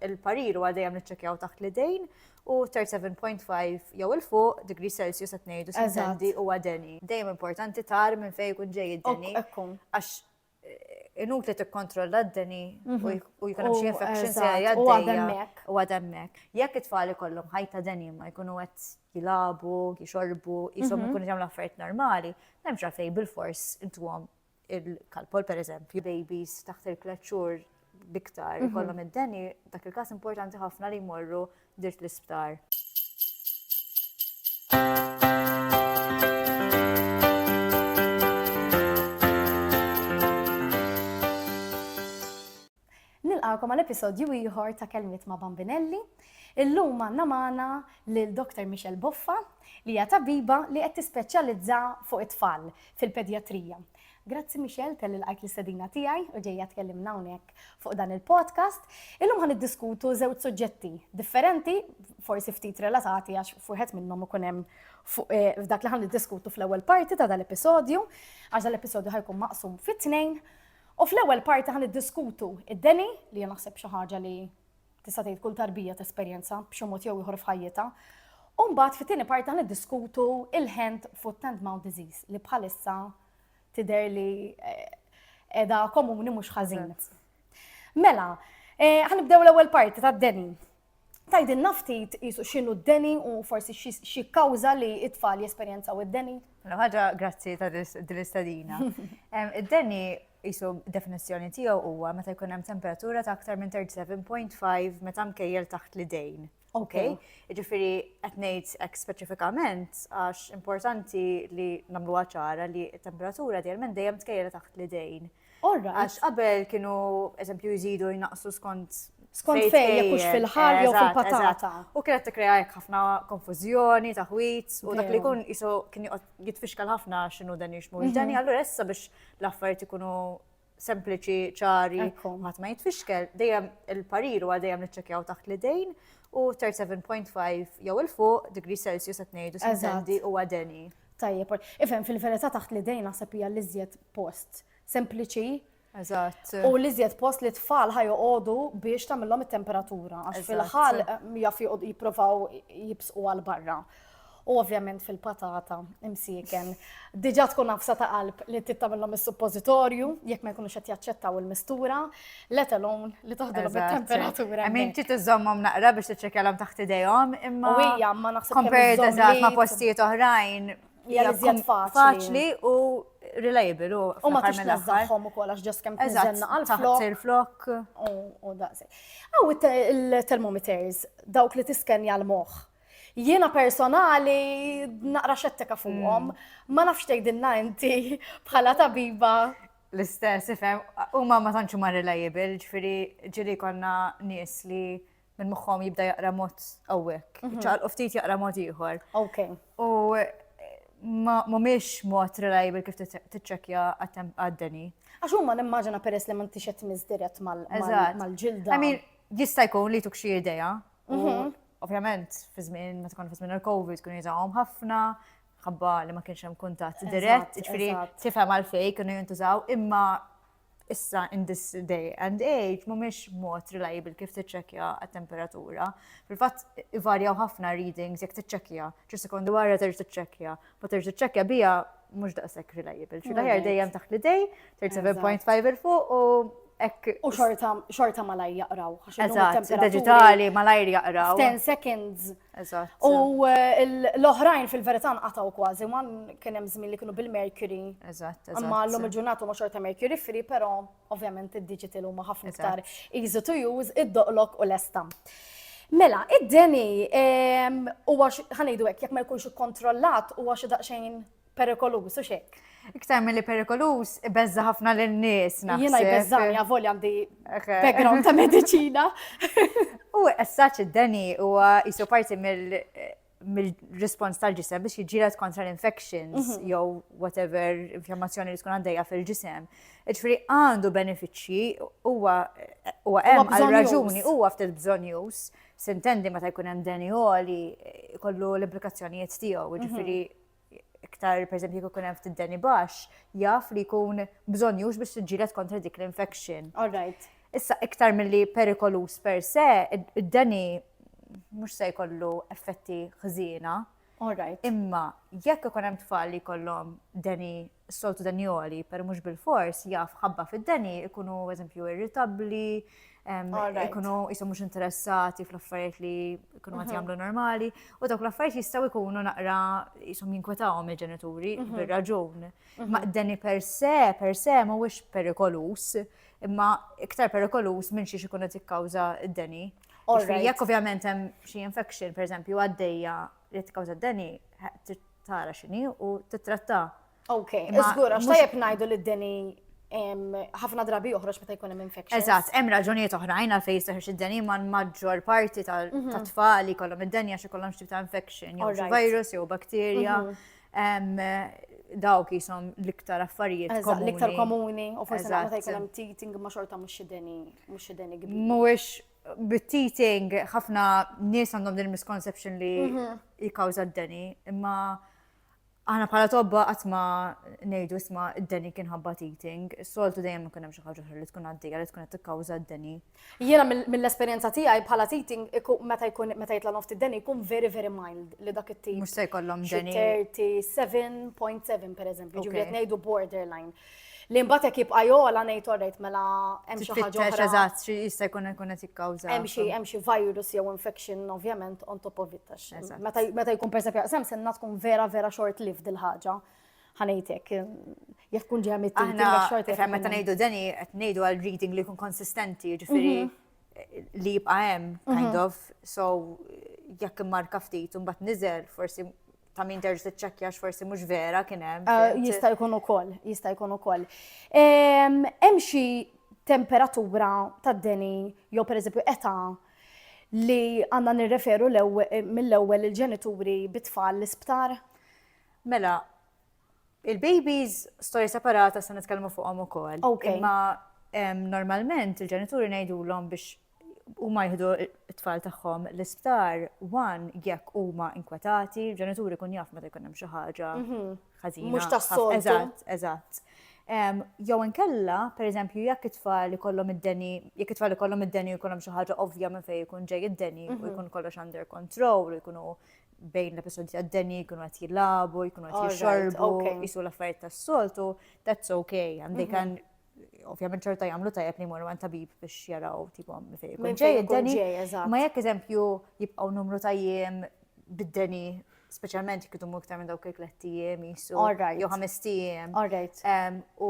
il-parir huwa dejjem niċċekjaw taħt l-idejn u 37.5 jew il fuq degree Celsius qed ngħidu sententi u għadeni. Dejjem importanti tar minn fejn ikun ġej id-deni. Għax eh, inut li tikkontrolla d-deni mhm. u jkun hemm xi infection se għaddejja u għademmek. Jekk it-tfal ikollhom ħajta deni ma jkunu qed jilabu, jixorbu, jisom mhm. ikunu jagħmlu affarijiet normali, m'hemmx għalfejn bil-fors intuhom il-kalpol per eżempju, babies taħt il-tlet xhur biktar mhm. ikollhom id-deni, dak il-każ importanti ħafna li jmorru dirt l-isptar. Nilqagħkom għal episodju ieħor ta' Kelmiet ma' Bambinelli. Illum għandna magħna lil Dr. Michelle Boffa li hija tabiba li qed tispeċjalizza fuq it-tfal fil-pedjatrija. Grazzi Michelle tal ilqajt l-istedina tiegħi u ġejja tkellimna hawnhekk fuq dan il-podcast. Illum ħan iddiskutu żewġ suġġetti differenti, forsi ftit relatati għax fuħet minnhom ikun hemm eh, f'dak li ħan iddiskutu fl-ewwel parti ta' dal-episodju, għax dal-episodju ħajkun maqsum fit-tnejn. U fl-ewwel parti ħa niddiskutu id-deni li jien naħseb xi ħaġa li tista' tgħid kull tarbija tesperjenza b'xi mod jew ieħor f'ħajjitha. U mbagħad fit-tieni parti ħa niddiskutu il-hand foot and mouth disease li bħalissa tidher li qiegħda eh, komuni mhux ħażin. Mela, eh, ħanibdew l-ewwel parti tad-deni. Tgħidilna ftit qisu x'inhu d-deni u forsi x'jikkawża li t-tfal jesperjenzaw id-deni? Mela ħaġa grazzi ta' din l-istadina. Id-deni qisu definizzjoni tiegħu huwa meta jkun hemm temperatura ta' aktar minn 37.5 meta mkejjel taħt l-idejn. Ok. Ġifieri qed ngħid hekk speċifikament għax importanti li nagħmluha ċara li t-temperatura dejjem dejjem tkejjel taħt l-idejn. Għax qabel kienu, eżempju, jżidu jnaqsu skont skont fejn jekk hux fil-ħal jew fil-patata. U kienet tikkrea hekk ħafna konfużjoni, taħwit, u dak li jkun isu kien jitfixkal ħafna x'inhu dan jixmu. Mhm. Dani allura issa biex l-affarijiet ikunu sempliċi, ċari, ħadd ma jitfixkel, dejjem il-parir huwa dejjem niċċekjaw taħt l-idejn u 37.5 jew il-fuq degree Celsius qed ngħidu sendi huwa deni. Tajjeb, ol- ifhem fil-verità taħt l-idejn naħseb hija l-iżjed post sempliċi Eżatt. u l-iżjed post li tfal ħajoqogħdu biex tagħmilhom it-temperatura għax Eżatt. fil-ħal mm, jaf joqgħodu jippruvaw jibsqu għal barra. U ovvjament fil-patata imsieken. Diġà tkun nafsa ta' qalb li trid tagħmilhom is-suppożitorju jekk ma jkunux qed jaċċettaw il-mistura. let alone li toħdilhom it-temperatura. I mean, ċiet iżommhom naqra biex tiċċekjalhom taħt idejhom, imma. U hija ma naħseb Compared eżatt ma' postijiet oħrajn. Hija iżjed faċli u reliable u. U ma tix nażżaħħom ukoll għax ġost kemm tiżenna għal flok. il-flok. U daqsi. Aw il-termometers dawk li tiskenja l-moħħ. Jiena personali naqra xettika fuqhom, mm. ma nafx tgħidilna inti bħala tabiba L-istess, ifhem, huma ma tantx huma reliable, ġifieri ġieli konna nies li minn moħħhom jibda jaqra mod hawnhekk, mhm. ċaqalqu ftit jaqra mod ieħor. Ok. U mhumiex mod reliable kif tiċċekkja għad-deni. Għax huma nimmaġina peress li m'intix qed tmiss dirett mal-ġilda. Jista' jkun li tuk xi idea. Mhm. Ovvjament, fi żmien meta tkun fi żmien il-COVID kun jżgħuhom ħafna, ħabba li ma kienx hemm kuntatt dirett, ġifieri tifhem għalfejn kienu jintużaw, imma issa in this day and age mhumiex mod reliable kif tiċċekkja għat-temperatura. Fil-fatt ivarjaw ħafna readings jekk tiċċekkja, ċi sekondu wara terġ tiċċekkja, ma terġ tiċċekkja bija mhux daqshekk reliable. Xi daħjar dejjem taħt l-idej, 37.5 il fuq u Ek. U xorta malaj jaqraw. Eżatt, digitali malajr jaqraw. 10 seconds Eżatt. U l-oħrajn fil-verità nqataw kważi, ma kien hemm żmien li kienu bil-Mercury. Eżatt, eżatt. Imma llum il-ġurnata ma xorta Mercury free, però ovvjament id-digital huma ħafna iktar easy to use, id-doqlok u l-esta. Mela, id-deni huwa ħanejdu hekk jekk ma jkunx ikkontrollat huwa xi daqsxejn perikoluż u xek. Iktar mill-li perikoluż, ibeżza ħafna l-nies. Jena jbeżżani għavol għandi background ta' medicina. U essaċ id-deni u jisu parti mill-respons tal-ġisem biex jġilat kontra l-infections mhm. jew whatever inflammazzjoni li tkun għaddejja fil-ġisem. Ġifri għandu benefiċċji huwa hemm għal raġuni huwa ftit bżonjus sintendi meta jkun hemm deni għoli kollu l-implikazzjonijiet tiegħu, mhm. ġifiri iktar per eżempju jekk ikun hemm ftit deni baxx, jaf li jkun bżonnjux biex tiġġieled kontra dik l-infection. All right. Issa iktar milli perikolus per se, id-deni mhux se jkollu effetti ħżiena. All right. Imma jekk ikun hemm tfal li jkollhom deni Is-soltu deni jogħli, per mhux bil-fors jaf ħabba fid-deni ikunu eżempju irritabbli, ikunu jisom mhux interessati fl-affarijiet li jkunu għati mhm. jagħmlu normali, u dawk l-affarijiet jistgħu jkunu naqra jisom jinkwetawhom il-ġenituri mhm. bir-raġun. Mhm. Ma deni per se, per se mhuwiex perikolus, imma iktar perikolus minn xiex ikun qed jikkawża d-deni. Jekk ovvjament hemm xi infection, pereżempju, għaddejja li tkawża d-deni trid tara x'inhi u tittratta. Ok, iżgur għax tajjeb ngħidu li d-deni ħafna drabi joħroġ meta jkun hemm infection. Eżatt, hemm raġunijiet oħrajn għal fejn jistaħħeġ id-deni ma' maġġor parti mhm. ta' tfal li kollhom id-deni għax ikollhom xi ta' infection, jew virus jew bakterja. Mhm dawk jisom l-iktar affarijiet komuni. L-iktar komuni, u forse għamata jkun hemm teething ma xorta mhux xideni, mhux xideni kbir. Mhuwiex bit-teething, ħafna nies għandhom din misconception li mhm. jikawza d-deni, imma aħna bħala tobba għatma nejdu isma d-deni kien ħabba teething, soltu dejjem ikun hemm xi ħaġa li tkun għaddejja li tkun qed tikkawża d-deni. Jiena mill-esperjenza tiegħi bħala teething meta jkun meta jitla' noft id-deni jkun very very mild li dak it-tip. Mhux se jkollhom deni. 37.7 pereżempju, ġifieri qed ngħidu borderline. Li mbagħad hekk jibqa' jogħla ngħid orrejt mela hemm xi ħaġa oħra. Eżatt, xi jista' jkun ikun qed jikkawża. Hemm xi hemm xi virus jew infection ovvjament on top of it tax. Meta jkun persa fjaqsam senna tkun vera vera short lived il-ħaġa. Ħanejtek, jekk tkun ġeja mit short lived. Meta ngħidu deni qed ngħidu għal reading li jkun konsistenti, ġifieri mhm. li jibqa' hemm kind mhm. of, so jekk immarka ftit u mbagħad niżel forsi ta' min terġ tiċċekkja forsi mhux vera kien hemm. Ah, jista' jkun ukoll, jista' jkun ukoll. Ehm, hemm xi temperatura tad-deni jew pereżempju età li għandna nirreferu eh, mill-ewwel il-ġenituri bit-tfal l-isptar? Mela, il-babies storja separata se nitkellmu fuqhom ukoll. Imma ehm, normalment il-ġenituri ngħidulhom biex huma jieħdu t-tfal tagħhom l-isptar, one jekk huma inkwetati, ġenituri kun jaf meta jkun hemm xi ħaġa mhm. ħażina. Mhux tas-sol. Eżatt, eżatt. Jew inkella, pereżempju, jekk it-tfal ikollhom id-deni, jekk it-tfal ikollhom id-deni u jkollhom xi ħaġa ovvja minn fejn ikun ġej id-deni u mhm. jkun kollox under control u jkunu bejn l-episodji għad-deni, jkunu għat jilabu, jkunu għat jixorbu, jisu l-affarijiet tas-soltu, that's okay, għandek mhm. ovvjament ċerta jagħmlu tajjeb li jmorru għand tabib biex jaraw tipo fejn ġej id-deni. Ma jekk eżempju jibqgħu numru ta' jiem bid-deni speċjalment jekk idumu iktar minn dawk il-tlett ijiem jisu. Jew ħames ijiem. U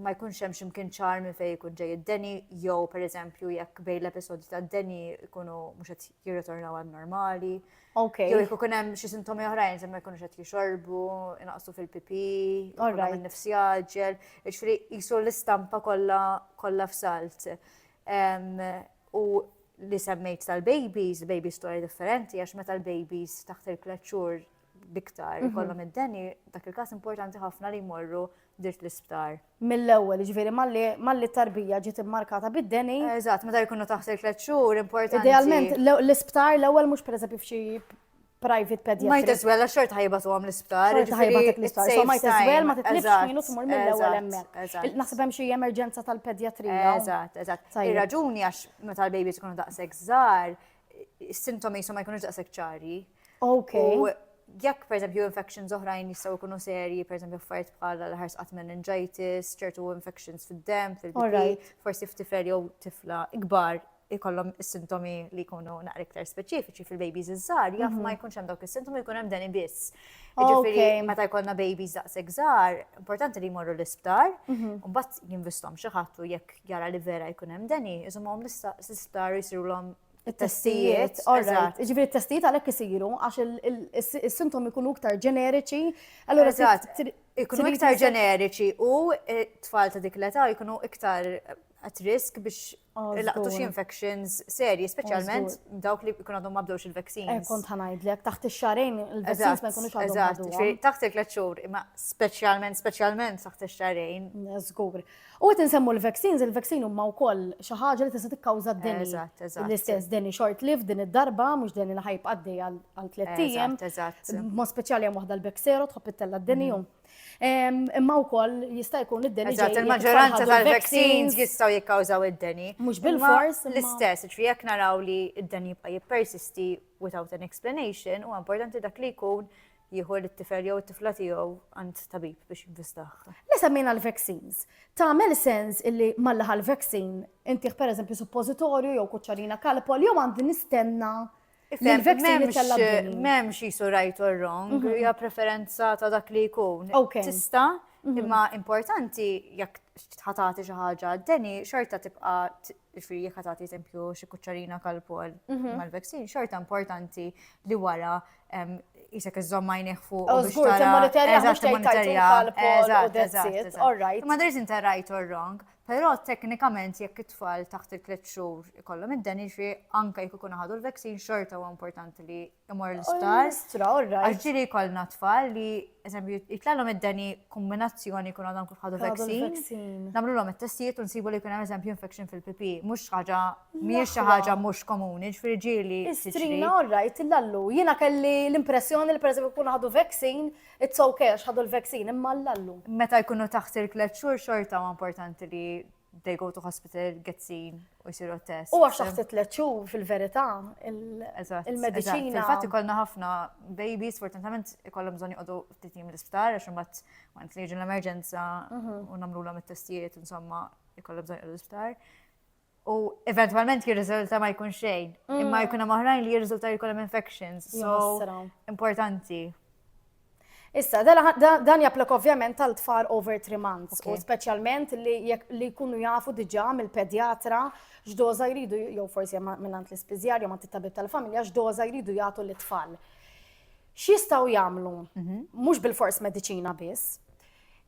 ma jkunx hemm x'imkien ċar minn fejn ikun ġej id-deni jew pereżempju jekk bejn l-episodji tad-deni jkunu mhux qed jirritornaw għal normali. Okay. Jew jekk ikun hemm xi sintomi oħrajn se ma jkunux qed jixorbu, inaqsu fil-pipi, jkollhom in-nifs jaġġel, jiġifieri qisu l-istampa kollha kollha f'salt. U li semmejt tal-babies, baby story differenti, għax meta l-babies taħt il-kleċċur biktar mhm. kollhom id-deni, dak il-każ importanti ħafna li jmorru dirt l-isptar. Mill-ewwel, jiġifieri malli t-tarbija ġiet immarkata bid-deni. Eżatt, meta jkunu taħt il-tliet xhur importanti. Idealment, l-isptar l-ewwel mhux pereżempju f'xi private pediatric. Might as well, xort ħajba tu għam l-isptar. Xort ħajba tu l-isptar. So might as well, ma titlibx minu tmur mill-ewel emmek. Naħseb hemm xi emerġenza tal-pedjatrija. Eżatt, eżatt. Ir-raġuni għax meta l-baby tkun daqshekk żgħar, is-sintomi jisu ma jkunux daqshekk ċari. Okay. U jekk per eżempju infections oħrajn jistgħu jkunu serji, per eżempju affarijiet bħala l-ħars qatt meningitis, ċertu infections fid-dem, fil-bari, forsi f'tifel jew tifla ikbar ikollhom is-sintomi li jkunu naqra iktar speċifiċi fil-babies iż-żgħar, jaf ma mhm. jkunx hemm dawk is-sintomi jkun hemm deni biss. Ġifieri meta jkollna babies daqshekk żgħar, importanti li jmorru l-isptar, mhm. u mbagħad jinvestom xi ħadd u jekk jara li vera jkun hemm deni, iżomhom l-isptar jisirulhom it-testijiet, eżatt. Ġifieri t-testijiet għalhekk isiru għax is-sintomi jkunu iktar ġeneriċi, allura eżatt. Ikunu iktar ġeneriċi u t-tfal ta' dik l-età jkunu iktar at risk biex laqtu xi infections serji, speċjalment dawk li jkunu għadhom ma bdewx il-vaccines. Eh, kont ħanajdlek, taħt ix-xarejn il-vaccines ma jkunux għadhom. Eżatt, taħt il-tliet xhur, imma speċjalment, speċjalment taħt ix-xarejn. Żgur. U qed insemmu l-vaccines, il-vaccine huma wkoll xi ħaġa li tista' tikkawża d-deni. Eżatt, eżatt. L-istess deni short lived din id-darba, mhux deni li ħajb għaddej għal tliet ijiem. Eżatt, eżatt. Mod speċjali hemm waħda l-Bexero tħobb ittella' d-deni mhm. ehm, Imma wkoll jista' jkun id-deni. Eżatt, il-maġġoranza tal-vaccines jistgħu jikkawżaw id-deni. Mhux bil-fors. L-istess, ġifieri jekk naraw li d-deni jibqa' jippersisti without an explanation, huwa importanti dak li jkun jieħu lit-tifel jew it-tifla tiegħu għand tabib biex jinvestah. Le semmejna l-vaccines. Tagħmel sens illi malli ħal vaccin intih pereżempju suppożitorju jew kuċċarina kalpol jew għandi nistenna l-vaccin jitella M'hemmx jisu right or wrong, mhm. hija preferenza ta' dak li jkun. Tista' mhm. imma importanti jekk ħatati xi ħaġa deni xorta tibqa' Ġifieri jekk tagħti eżempju xi kuċċarina kalpol mhm. mal-vaccine, xorta importanti li wara jisek iżżomm għajneħ fuq. Oh, żgur, timmonitorja mhux tgħidilha kalpol u dezzit. All right. Ma there's inter right or wrong. Però teknikament jekk it-tfal taħt il-tliet xhur ikollhom id-deniġi anke jekk ikun ħadu l-vaccine xorta huwa importanti li imur l-isptar. Istra, all right. Għaxġiri kolna tfal li, eżempju, jitlallom id-deni kombinazzjoni kun għadhom kif ħadu vaccine. Namlu l-om il-testijiet un sibu li kun eżempju infection fil-pipi. Mux ħaġa, miex ħaġa mux komuni, ġifiri ġili. Istrina, all right, l-allu. Jina kelli l-impressjoni li per eżempju kun ħadu vaccine, it's okay, ħadu l-vaccine, imma l-allu. Meta jkunu taħsir klet xur xorta ma importanti li they go to hospital, get seen, u jisiru test. U għax taħt tliet xhur fil-verità il-mediċina. Infatti kollna ħafna babies, fortunatament ikollhom bżonn joqogħdu ftit jiem l-isptar għax imbagħad waqt li jiġu l-emerġenza mhm. u nagħmlulhom it-testijiet insomma ikollhom bżonn joqogħdu l-isptar. U eventualment jirriżulta ma jkun xejn, mm. imma jkun hemm oħrajn li jirriżulta jkollhom infections. So importanti. Issa, dan japplok ovvjament għal tfal over 3 months, u speċjalment li jkunu jafu diġa mill-pedjatra x'doża jridu, jew forsi minnant l-ispiżjar, jew mant it-tabib tal-familja, x'doża jridu jagħtu l-tfal. X'jistgħu jagħmlu? Mhm. Mhux bil-fors mediċina biss,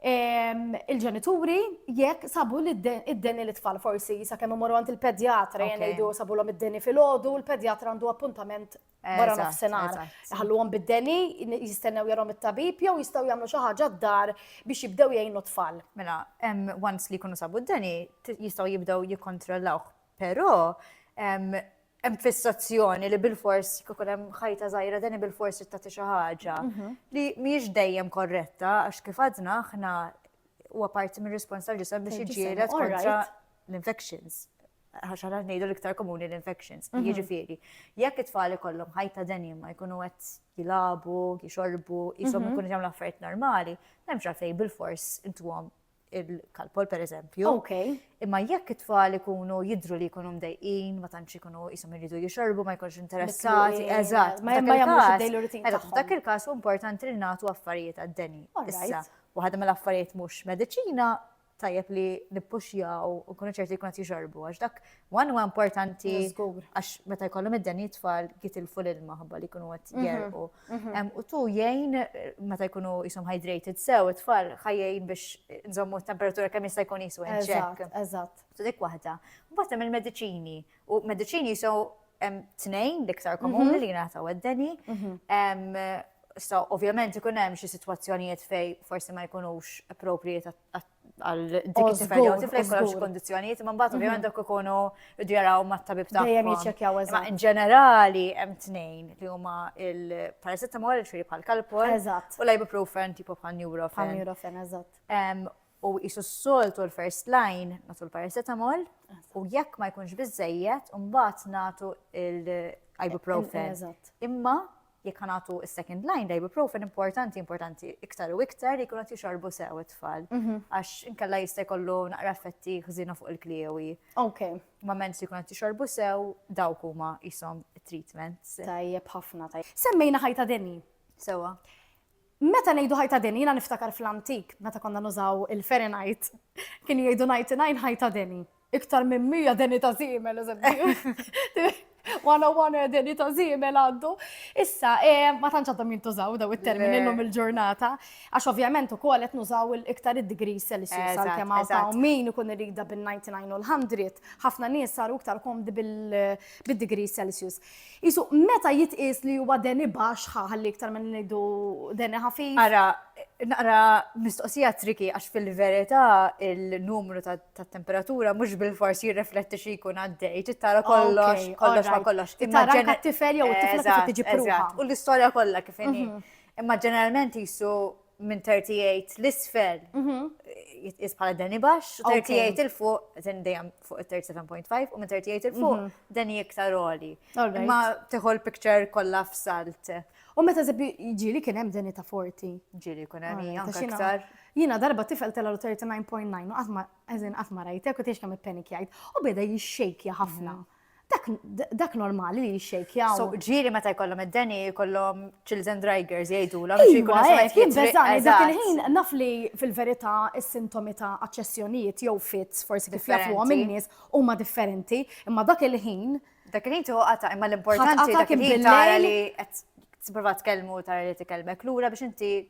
il-ġenituri jekk sabu li id-deni li tfal forsi jisa kemm imorru għand il-pedjatra jgħidu sabu l-om id-deni fil-ħodu, il-pedjatra għandu appuntament wara nofsinhar. Ħalluhom bid-deni, jistennew jarhom it-tabib jew jistgħu jagħmlu xi ħaġa d-dar biex jibdew jgħinu tfal. Mela, once li jkunu sabu d-deni, jistgħu jibdew jikkontrollawh. Però hemm fissazzjoni li bil-fors kikun hemm ħajta żgħira deni bil-fors tagħti xi ħaġa mhm. li mhijiex dejjem korretta għax kif għadna aħna huwa parti mir-respons tal-ġisem biex jiġġieled kontra l-infections. għax għana ngħidu l-iktar komuni l-infections. Mhm. Jiġifieri, jekk it-tfal ikollhom ħajta denima jkunu qed jilabu, jixorbu, jisom mhm. ikunu jagħmlu affarijiet normali, m'hemmx għalfejn bil-fors intuhom il-kalpol per eżempju. Ok. Imma jekk it-tfal ikunu jidru li jkunu mdejqin, ma tantx ikunu jisom iridu jixorbu, ma jkunx interessati, eżatt. Ma jagħmlux id mela, Dak il-każ importanti li nagħtu affarijiet għad-deni. Issa, waħda mill-affarijiet mhux mediċina tajjeb li nippuxjaw u nkunu ċerti jkun qed jixorbu għax dak one huwa importanti għax meta jkollhom id-deni tfal git il-ful ilma ħabba li jkunu qed mhm, jerqu. Mhm. U tu jgħin meta jkunu jisom hydrated sew it-tfal ħajjin biex nżommu t-temperatura kemm jista' jkun jisu Eżatt, eżatt. Tu dik waħda. Mbagħad hemm il-mediċini u mediċini jisu Hemm tnejn l-iktar komuni li jingħataw għad-deni. So, ovvjament ikun hemm xi sitwazzjonijiet fej forsi ma jkunux appropriate għal dik it-tifel jew tifel jkollhom xi kondizzjonijiet, imma mbagħad ovvjament dak ikunu jdu jaraw mat-tabib tagħhom. Dejjem jiċċekkjaw eżatt. In ġenerali hemm tnejn li huma il-paracetamol, ġifieri bħal kalpol, u l-ibuprofen tipo bħal neurofen. Bħal neurofen, eżatt. u qisu s-soltu l-first line nagħtu l-paracetamol u jekk ma jkunx biżejjed mbagħad nagħtu l-ibuprofen. Imma jekk nagħtu s-second line l-ibuprofen importanti importanti iktar u iktar li jkun qed jixorbu sew it-tfal mhm. għax inkella jista' jkollu naqra effetti ħżina fuq il-kliewi. Ok. Ma mens li jkun qed jixorbu sew dawk huma jisom treatments. Tajjeb ħafna tajjeb. Semmejna ħajta deni. Sewa. Meta ngħidu ħajta deni, jiena niftakar fl-antik, meta konna nużaw il-Fahrenheit, kienu jgħidu 99 ħajta deni. Iktar minn 100 deni ta' żiemel, eżempju. 101 deni ta' żiemel għaddu. Issa, eh, ma tantx għadhom jintużaw daw it-termini llum il-ġurnata, għax ovvjament ukoll qed nużaw iktar id-degrees Celsius għalkemm hawn min ikun iridha bin-99 u l-100, ħafna nies saru iktar komdi bil-degrees Celsius. Qisu, meta jitqies li huwa deni baxx, ħa ħalli iktar ma ngħidu deni ħafif. Ara, naqra mistoqsija triki għax fil-verità il-numru tat-temperatura mhux bil-fors jirrefletti xi jkun għaddej, trid tara kollox, kollox ma kollox. Tara anke t-tifel jew it-tifla kif tiġi pruva. U l-istorja kollha kif inhi. Imma ġeneralment qisu minn 38 l-isfel jitqis bħala deni baxx, 38 il-fuq deni dejjem fuq il-37.5 u minn 38 il-fuq deni iktar oli. Ma teħol picture kollha f'salt. U meta zebbi ġili kien hemm deni ta' 40. Ġili kun hemm hija iktar. Jiena darba tifel tela' 39.9 u qatt ma eżin qatt ma rajtek u tiex kemm ippenikjajt u beda jixxejkja ħafna. Dak normali li jixxejkjaw. So, ġiri meta jkollhom id-deni, jkollhom children drivers jgħidu la biex jkun għajt jibbeżani. Dak il-ħin naf li fil-verità is-sintomi ta' aċċessjonijiet jew fits forsi kif jafuhom in-nies huma differenti, imma dak il-ħin. Dak il-ħin tuħu qata' imma l-importanti dak il-ħin tara li qed tipprova tkellmu tara li tkellmek lura biex inti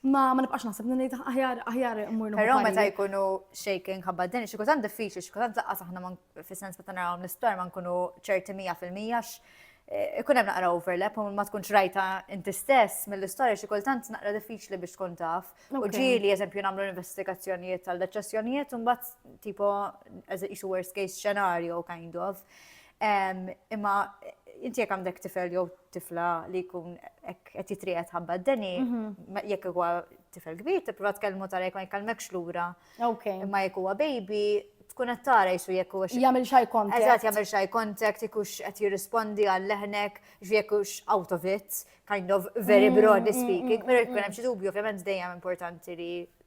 Ma ma nibqax naħseb li ngħid aħjar aħjar immur Però meta jkunu shaking ħabba din xi kultant diffiċli, xi kultant laqqas aħna fis-sens meta narawhom l-isptar ma nkunu ċerti mija fil-mija eh, ikun hemm naqra overlap u ma tkunx rajta inti stess mill-istorja xi kultant naqra diffiċli biex tkun taf. U ġieli eżempju nagħmlu investigazzjonijiet tal deċessjonijiet u mbagħad tipo as a worst case scenario kind of. Imma inti jekk għandek tifel jew tifla li jkun qed jitrijet ħabba d-deni, mhm. jekk huwa tifel kbir, tipprova tkellmu tara jekk ma jkellmekx lura. Imma jekk huwa baby, tkun qed tara jisu jekk hux. Jagħmel xi contact. Eżatt jagħmel xi contact, jekk hux qed jirrispondi għal leħnek, jekk hux out of it, kind of very mm, broadly mm, speaking, mm, però jkun hemm xi dubju, ovvjament dejjem importanti li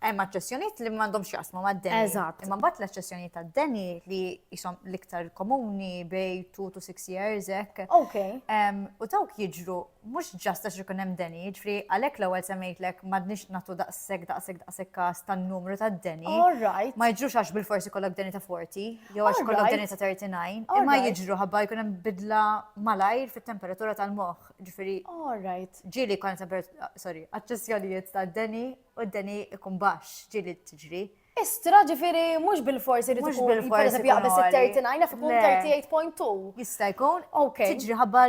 Hemm aċċessjonijiet li m'għandhomx x'jaqsmu mad-deni. Eżatt. Imma mbagħad l-aċċessjonijiet tad-deni li jisom l-iktar komuni bej 2 to 6 years hekk. Ok. U dawk jiġru mhux ġast għax ikun hemm deni, ġifri għalhekk l-ewwel semmejtlek m'għadniex nagħtu daqshekk daqshekk daqshekk każ tan-numru tad-deni. All right. Ma jiġrux għax bil-forsi kollok deni ta' 40 jew għax kollok deni ta' 39, imma jiġru ħabba jkun hemm bidla malajr fit-temperatura tal-moħħ. Ġifieri. All right. Ġieli jkun temperatura, sorry, aċċessjonijiet tad-deni U d-deni ikun baxx, ġieli tiġri. Istra, ġifieri mhux bilfors irid ikun għoli. Mhux bilfors ikun għoli. Pereżempju jaqbeż it-39 naf ikun 38.2. Jista' jkun. Ok. Tiġri ħabba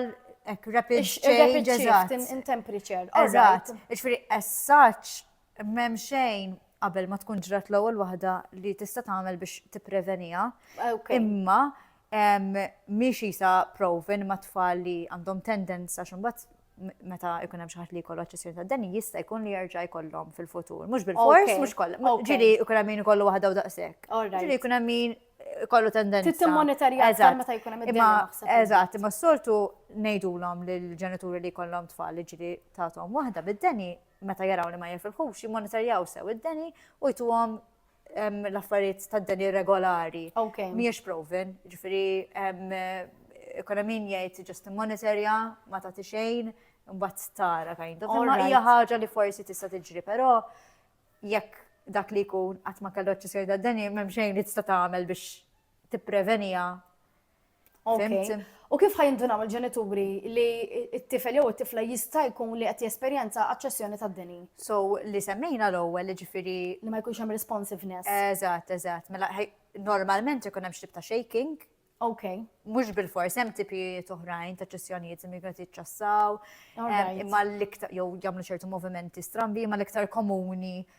hekk rapid change, eżatt. In temperature. Eżatt. Ġifieri as such m'hemm xejn qabel ma tkun ġrat l-ewwel waħda li tista' tagħmel biex tippreveniha. Ok. Imma mhix qisha proven ma' tfal li għandhom tendenza x'imbagħad meta ikun hemm xi ħadd li jkollu aċċessjoni ta' danni jista' jkun li jerġa' jkollhom fil-futur. Mhux bil-fors, mhux kollha. Ġieli jkun hemm min ikollu waħda u daqshekk. Ġieli jkun hemm min ikollu tendenza. Tittim monitorja meta jkun hemm id Eżatt, imma s-soltu ngħidulhom lill-ġenituri li jkollhom tfal li ġieli tagħthom waħda bid-deni meta jaraw li ma jifilħux jimmonitorjaw sew id-deni u jtuhom l-affarijiet ta' dan irregolari. Mhijiex proven, ġifieri ikun hemm min jgħid ġust monitorja ma tagħti xejn, mbagħad tara kind of. Imma hija ħaġa li forsi tista' tiġri, però jekk dak li jkun qatt ma kellu eċċessjoni ta' deni, m'hemm xejn li tista' tagħmel biex tipprevenija. Fimti? U kif ħajindunaw il-ġenituri li t-tifel jew it-tifla jista' jkun li qed jesperjenza aċċessjoni tad-deni? So li semmejna l-ewwel jiġifieri li ma jkunx hemm responsiveness. Eżatt, eżatt. Mela normalment ikun hemm xtib ta' shaking. Ok. Mhux bil-fors hemm tipi toħrajn ta' ċessjonijiet li qed jiċċassaw. Imma l-iktar jew jagħmlu ċertu movimenti strambi, imma l-iktar komuni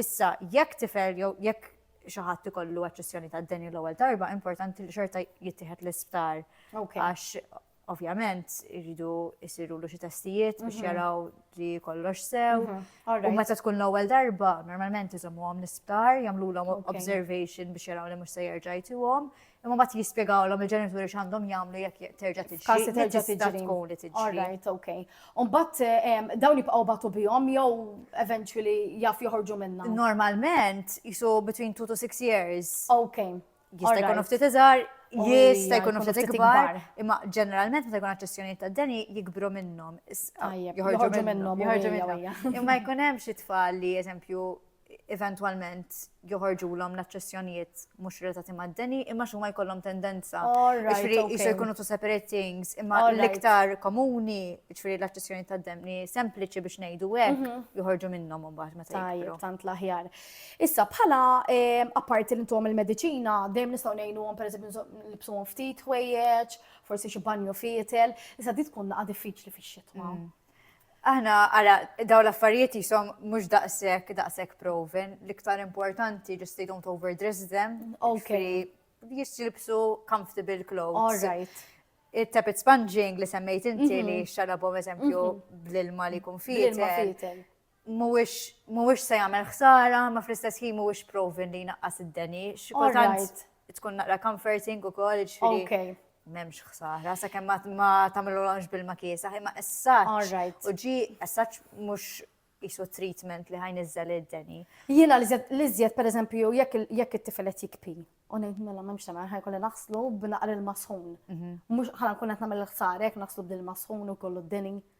Issa, jekk tifel jew jekk xi ħadd ikollu aċċessjoni tad-deni l-ewwel darba, importanti li xorta jittieħed l-isptar. Għax ovvjament iridu jsirulu xi testijiet biex mhm. jaraw li kollox sew. Mhm. U meta tkun l-ewwel darba, normalment iżommuhom l-isptar, jagħmlulhom observation biex jaraw li mhux se jerġa' jtuhom, Imma mbagħad jispjegawlhom il-ġenituri x'għandhom jagħmlu jekk terġa' tiġi. Każ li terġa' tiġi tkun li tiġi. Alright, okay. U mbagħad ehm, dawn jibqgħu batu bihom jew eventually jaf joħorġu minnha. Normalment jisu between 2 to 6 years. Okay. Jista' jkun ftit iżgħar, jista' jkun ftit ikbar, imma ġeneralment meta jkun aċċessjonijiet ta' deni jikbru minnhom. Joħorġu minnhom. Imma jkun hemm xi tfal li eżempju eventwalment joħorġulhom l-aċċessjonijiet mhux relatati mad-deni, imma xi huma jkollhom tendenza. Ġifieri jisu jkunu two separate things, imma l-iktar komuni, ġifieri l-aċċessjoni tad-deni sempliċi biex ngħidu hekk, mhm. joħorġu minnhom imbagħad meta jgħidu. tant l-aħjar. Issa bħala ehm, apparti li intom il-mediċina, dejjem nistgħu ngħinuhom pereżempju nibsuhom ftit ħwejjeġ, forsi xi banju fietel, issa di tkun naqa' diffiċli fix-xitwa. Mm. Aħna ara daw l-affarijiet jisom mhux daqshekk daqshekk proven, l-iktar importanti just they don't overdress them. Okay. Jisilbsu comfortable clothes. All right. Il-tapit sponging li semmejt inti mhm. li xalabom eżempju mhm. bl-ilma li kun fitel. mhuwiex se jagħmel ħsara, ma fl-istess ħin mhuwiex proven li jnaqqas id-deni. X'kultant tkun naqra comforting ukoll ġifieri. M'hemmx ħsara, sakemm ma tagħmilulhomx bil-ma kiesa, imma essaċ. U ġi essaċ mhux jisu treatment li ħajn iżżel id-deni. Jiena li żjed per eżempju jekk it-tifel qed jikpi u ngħid mela m'hemmx tagħmel ħaj kolli naħslu b'naqar il-masħun. Mhm. Mhux ħala nkun qed nagħmel ħsarek naħslu b'dil-masħun u kollu d-deni.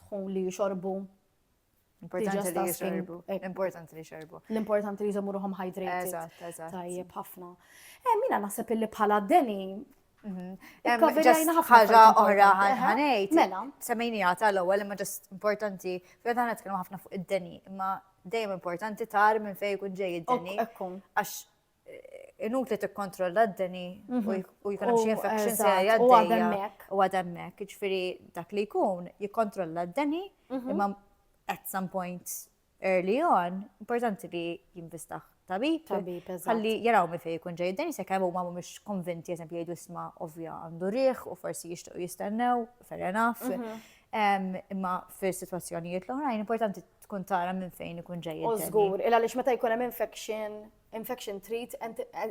dħun li jixorbu. Importanti li jixorbu. Eh, importanti li jixorbu. L-importanti li jżommu ruħom hydrated. Eżatt, eżatt. Tajjeb ħafna. Eh, mina naħseb illi bħala d-deni mhm. ħaġa oħra ħanejt. Mela. Semmejni għata l-ewwel imma ġast importanti. Fija dan nitkellmu ħafna fuq id-deni, imma dejjem importanti tar minn fejn ikun ġej id-deni. Għax inutli tikkontrolla d-deni u mhm. jkun hemm xi infection se jgħaddejja u għademmek. Ġifieri dak li jkun jikkontrolla d-deni mhm. imma at some point early on, importanti li jinvistaħ tabib. Tabib, Għalli jaraw mi fej kun ġej d-deni se kemm huma mhumiex konvinti eżempju jgħidu isma' ovvja għandu riħ u forsi jixtiequ jistennew, fair enough. Mhm. Imma fil-situazzjonijiet l-oħrajn, importanti tkun tara minn fejn ikun ġej. U żgur, il għaliex meta jkun hemm infection, infection treat,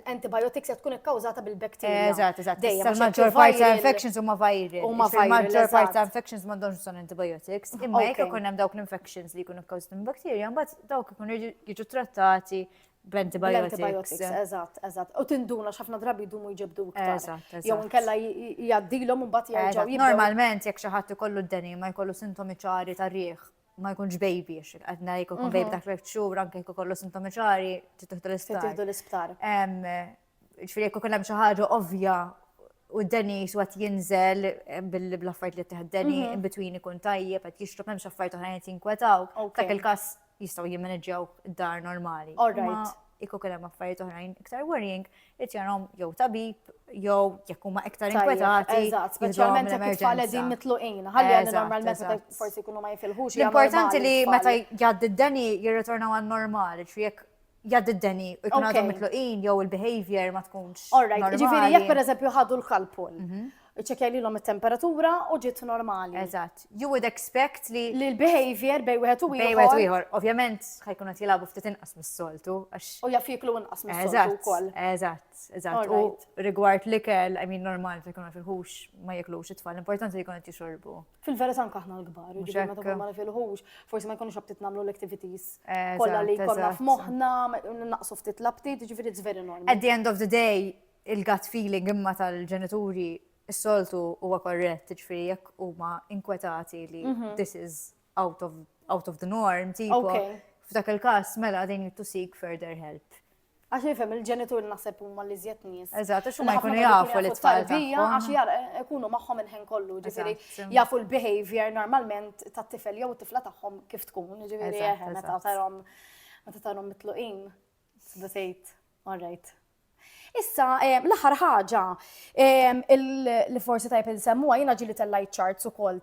antibiotics qed tkun ikkawżata bil-bakterja. Eżatt, eżatt. Dejjem maġġor parti ta' infections huma viral. Huma viral. Maġġor parti ta' infections m'għandhomx bżonn antibiotics. Imma jekk ikun hemm dawk l-infections li jkunu kkawżati minn bakterja, mbagħad dawk ikunu jiġu trattati bl-antibiotics. Eżatt, eżatt. U tinduna x'ħafna drabi jdumu jġibdu iktar. Jew inkella jgħaddilhom u mbagħad jerġgħu. Normalment jekk xi ħadd ikollu d-deni ma jkollu sintomi ċari tar-riħ ma jkunx baby, għadna jkun mhm. baby ta' 12 xhur, anke jkun kollu sintomi ċari, titħdu l-isptar. Titħdu l-isptar. Ġifieri jkun hemm xi ħaġa ovvja u d-deni xwat jinżel eh, bil-affajt li teħd deni, mhm. in between ikun tajjeb, għat jixrob hemm xaffajt oħrajn qed jinkwetaw. Dak il-każ jistgħu jimmaneġġjaw dar normali. All right. Kieku kien hemm affarijiet oħrajn iktar worrying, irid jarhom jew tabib jew jekk huma iktar inkwetati. Eżatt, speċjalment jekk it-tfal qegħdin mitluqin. Ħalli għandi normalment meta forsi jkunu ma jifilħux. L-importanti li meta jgħaddi d-deni jirritorna għal normali, ġifieri jekk jgħaddi d-deni u jkun għadhom mitluqin jew il-behavior ma tkunx. Alright, ġifieri jekk pereżempju ħadu l-kalpol. Mhm. Iċċekja lilhom it-temperatura u ġiet normali. Eżatt. You would expect li li l-behavior bej wieħed u ieħor. Bej wieħed u ieħor. Ovvjament ħajkun qed jilagħbu ftit inqas mis-soltu għax. U jaf jiklu inqas mis-soltu wkoll. Eżatt, eżatt. U rigward l-ikel, I mean normal se jkun fil-ħux ma jiklux it-tfal, importanti li jkun qed jixorbu. Fil-verità anke aħna l-kbar, jiġifieri meta tkun ma fil-ħux, forsi ma jkunux abtit nagħmlu l-activities kollha li jkollna f'moħħna, naqsu ftit l-abtit, jiġifieri it's very normal. At the end of the day, il-gut feeling imma tal-ġenituri s-soltu huwa korrett, ġifieri jekk huma inkwetati li mhm. this is out of, out of the norm, tipo, okay. f'dak il-każ mela they need to seek further help. Għax jifem il-ġenitur naħseb huma li żjed nies. Eżatt, għax huma jkunu jafu li tfal tarbija għax jar eh, ikunu magħhom il-ħin kollu, ġifieri jafu l-behavior normalment tat-tifel jew tifla tagħhom kif tkun, ġifieri eh, meta tarhom meta tarhom mitluqin. Tibda tgħid, all right, Issa, l-aħħar ħaġa li forsi tajb insemmuha jiena ġili tellajt charts ukoll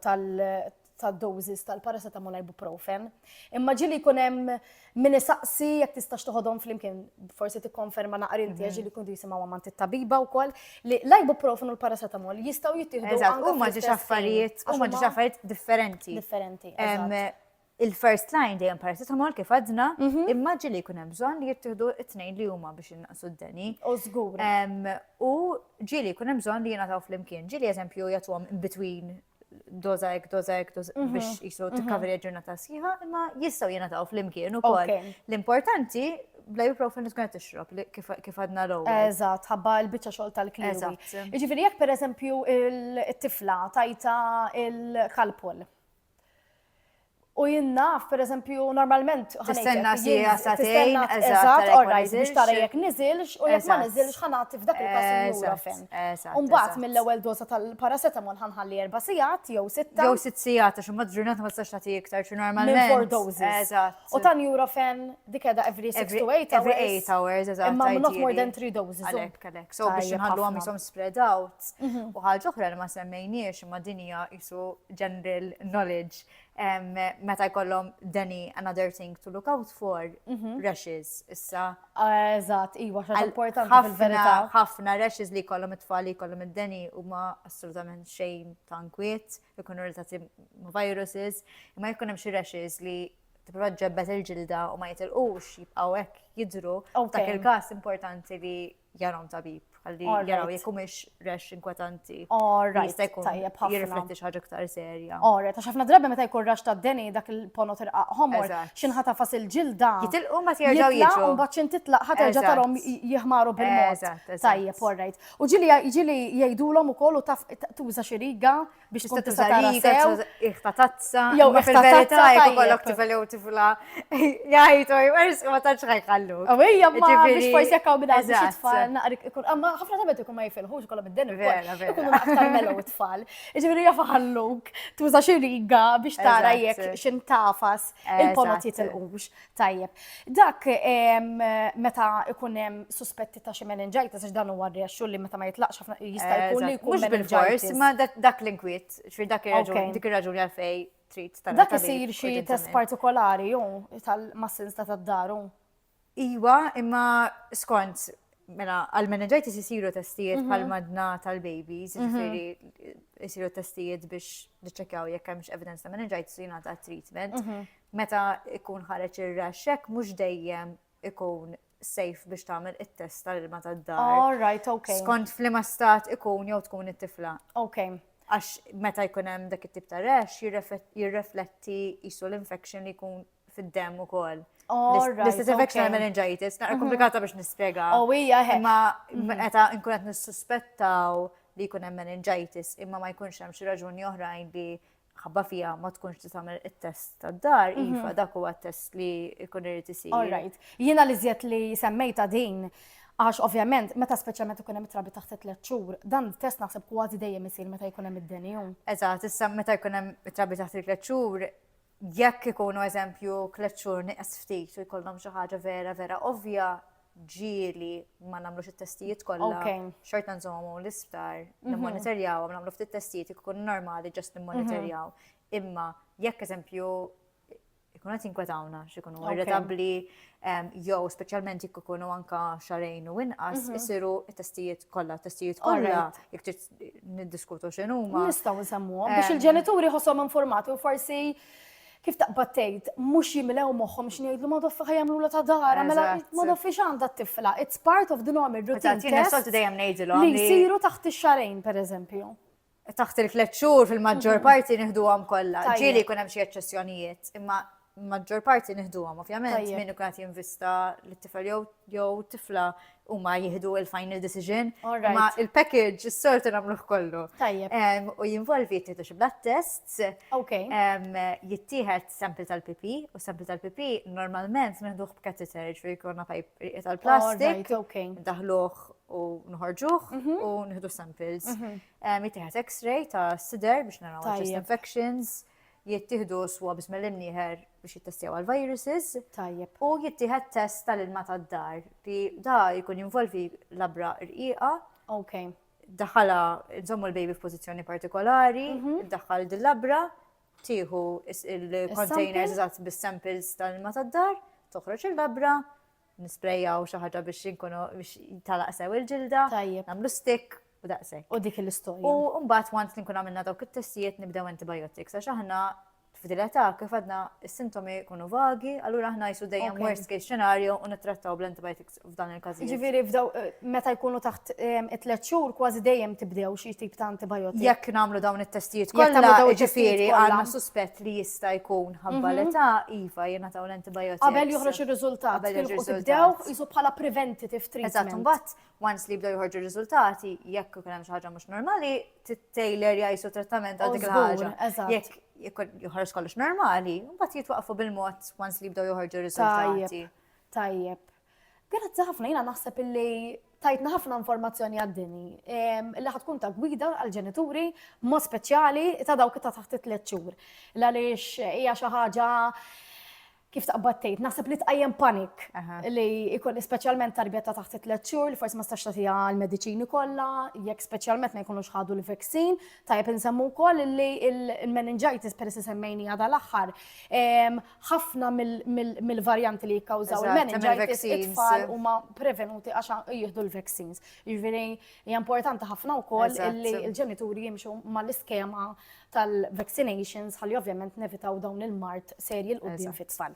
tad-doses tal-paracetamol ibuprofen. Imma ġili jkun hemm min isaqsi jekk tistax toħodhom flimkien, forsi tikkonferma naqra inti għax ġili kuntu jisimgħu għamant it-tabiba wkoll, li l-ibuprofen u l-paracetamol jistgħu jittieħdu. Eżatt, huma ġiex affarijiet, huma ġiex affarijiet differenti. Differenti. Il-first line dejjem paracetamol kif għadna, immaġi li jkun hemm bżonn li jittieħdu t-tnejn li huma biex innaqsu d-deni. U żgur. U ġieli jkun hemm bżonn li jingħataw flimkien. Ġieli eżempju jagħtuhom in between doza ek, doza ek, biex jisu t-cover ġurnata sħiħa, imma jistaw jena taw fl-imkien u kol. L-importanti, bla ibuprofen li tkun tixrob kif għadna l Eżat, ħabba l-bicċa xol tal-klima. Ġifiri, jek per eżempju il-tifla tajta il-kalpol. U jien naf, per eżempju, normalment. Tistenna si għasatejn, eżatt, u rajt biex tara jek nizilx, u jek ma nizilx ħanati f'dak il-kas il-jura fem. Umbat mill-ewel doza tal-paracetamol ħanħalli erba sijat, jew sitta. Jew sitt sijat, għax umbat ġurnat ma tistax tagħti iktar, xi normalment. Four doses. U tan jura fem dik edha every 6 to 8 hours. Every 8 hours, eżatt. Imma not more than 3 doses. Għalek, għalek. So biex nħallu għam jisom spread out. Arts. U ħaġa oħra li ma semmejniex imma din hija isu general knowledge meta jkollhom deni another thing to look out for rashes issa. Eżatt, iwa xa importanti fil-verità. Ħafna rashes li jkollhom it-tfal li jkollhom id-deni huma assolutament xejn ta' nkwiet, ikunu relatati ma' viruses, imma jkun hemm xi rashes li tipprova ġebbet il-ġilda u ma jitilqux jibqgħu hekk jidru. Dak il-każ importanti li jarom tabib, għalli jaraw jek mux rex inkwetanti. Alright, tajjeb ħafna. Jirrifletti xaġa ktar serja. Alright, għax ħafna drabi meta jkun rax ta' deni dak il-pono tirqaq homor, xinħata fas il-ġilda. Jitilqu ma tjerġaw jiġu. Un baċin titlaq ħat erġa tarom jihmaru bil-mod. Tajjeb, alright. U ġili ġili jajdulom u kollu taf tuża xiriga. biex tkun tista' tara sew. Iħta tazza, jew iħta tazza jekk ikollok tifel jew tifla. Jgħidu jwers ma tantx ħajħallu. U hija ma biex forsi jekk hawn bidgħat biex tfal naqrik ikun amma ħafna tabet ikun ma jifilħux kollha mid-din ikunu aktar melu tfal. Ġifieri jaf ħalluk tuża xi riga biex tara jekk x'intafas il-ponot jitilqux. Tajjeb. Dak meta ikun hemm suspetti ta' xi meningitis għax dan huwa rexxu li meta ma jitlaqx ħafna jista' eh, jkun li jkun bil-fors, ma dak l-inkwiet, xfir dak ir-raġun, dik ir-raġun għalfej trid tal Dak isir xi test partikolari ju tal-massins ta' tad-daru. Iwa, imma skont mela għal-meningitis isiru testijiet mhm. bħal madna tal-babies, mhm. ġifieri isiru testijiet biex niċċekjaw jekk hemmx evidence ta' meningitis u jingħata treatment. Mhm. Meta jkun ħareġ ir-rash hekk mhux dejjem ikun safe biex tagħmel it-test tal-ilma tad-dar. All right, okay. Skont f'liema stat ikun jew tkun it-tifla. Okay. Għax meta jkun hemm dak it-tip ta' rash jirrefletti jisu l-infection li jkun fid-dem ukoll. L-istess infection għal meningitis, naqra mhm. komplikata biex nispjega. Oh, hija Imma mhm. meta nkun qed nissuspettaw li jkun hemm meningitis imma ma jkunx hemm xi raġuni oħrajn li ħabba fija ma tkunx ti tagħmel it-test tad-dar, mhm. iva dak huwa t-test li jkun irid isir. All right. Jiena li żjed li semmejta din Għax ovvjament, meta speċjalment ikun hemm trabi taħt tliet xhur, dan test naħseb kważi dejjem isir meta jkun hemm id-denju. Eżatt, issa meta jkun hemm trabi taħt tliet xhur, jekk ikunu eżempju tliet xhur nieqes ftit u jkollhom xi ħaġa vera vera ovvja, ġieli ma nagħmlux it-testijiet kollha. Xorta nżommhom l-isptar, mhm. nimmonitorjaw, nagħmlu ftit testijiet ikun normali ġast nimmonitorjaw. Mhm. Imma jekk eżempju ikun qed jinkwetawna x'ikunu irritabbli jew speċjalment jekk ikunu anka xarejn u inqas mhm. isiru t-testijiet kollha, testijiet kollha jekk trid niddiskutu x'inhuma. Nistgħu nsemmuhom biex il-ġenituri ħossom informati u forsi Kif taqbad tgħid, mhux jimlew moħħhom x'inhu jgħidlu ma' doffi ħa jagħmlulha ta' darha, mela ma' doffi x'għandha t-tifla? It's part of the normal routine tests li jsiru taħt ix-xahrejn, pereżempju. Taħt il-tliet xhur fil-maġġor parti nieħduhom kollha. Ġieli jkun hemm xi eċċessjonijiet, imma maġġor parti nieħduhom, ovvjament, min ikun qed jinvista lit-tifel jew tifla huma jieħdu il-final decision. Ma il-package is-sortu nagħmluh kollu. Tajjeb. U jinvolvi jittieħdu xi blood tests. Ok. Jittieħed sample tal-pipi u sample tal-pipi normalment neħduh b'kateter ġifieri jkollna pajp tal-plastik. Ok. Daħluh u nħorġuh mhm. u nieħdu samples. Mhm. Jittieħed x-ray ta' sider biex naraw chest infections. jittieħdu swabs mill-imnieħer biex jittestjaw għal viruses. Tajjeb. U jittieħed test tal-ilma tad-dar li da jkun jinvolvi labra rqiqa. Ok. Daħala nżommu l-baby f'pożizzjoni partikolari, mhm. daħal dil-labra, tieħu il-containers eżatt bis-samples tal-ilma tad-dar, toħroġ il-labra, Nisprejjaw xi ħaġa biex inkunu biex talaq sew il-ġilda. Tajjeb. Nagħmlu stick u daqshekk. U dik l-istorja. U mbagħad once li nkun għamilna dawk it-testijiet nibdew antibiotics għax aħna f'din l-età kif għadna s-sintomi jkunu vagi, allura aħna jsu dejjem Ok. worst case scenario u nittrattaw bl-antibiotics f'dan il-każijiet. Ġifieri f'daw eh, meta jkunu taħt em, it-tliet xhur kważi dejjem tibdew xi tip ta' antibiotic. Jekk nagħmlu dawn it-testijiet Jekk tagħmlu kollha, dawn it-testijiet ġifieri kollha. Mhm. għandna suspett li jista' jkun ħabba l-età, iva jingħataw l Qabel joħroġ ir-riżultat. Qabel joħroġ ir-riżultat. Tibdew jisu bħala preventative treatment. Eżatt, imbagħad once li jibdew joħorġu r-riżultati, jekk ikun hemm xi ħaġa mhux normali, tittejler jgħisu trattament għal dik il-ħaġa. Jekk joħroġ kollox normali, mbagħad jitwaqfu bil-mod once li jibdew joħorġu r-riżultati. Tajjeb. Grazzi ħafna, jina naħseb illi tajtna ħafna informazzjoni għaddini li ħatkun ta' gwida għal-ġenituri mod speċjali ta' dawk ta' taħt it-tliet xhur. Għaliex hija xi ħaġa kif taqbad tgħid, naħseb li tqajjem panik li jkun speċjalment tarbija ta' taħt it-tliet xhur li forsi ma stax tagħtiha l-mediċini kollha, jekk speċjalment ma jkunux ħadu l-vaksin, tajjeb insemmu wkoll li l-meningitis peress semmejni għadha l-aħħar. ħafna mill-varjanti li jikkawżaw il-meningitis it-tfal huma prevenuti għax jieħdu l-vaccines. Jiġifieri hija importanti ħafna wkoll li l-ġenituri jimxu mal-iskema tal-vaccinations ħalli ovvjament nevitaw dawn il-mart serji l-qudiem fit-tfal.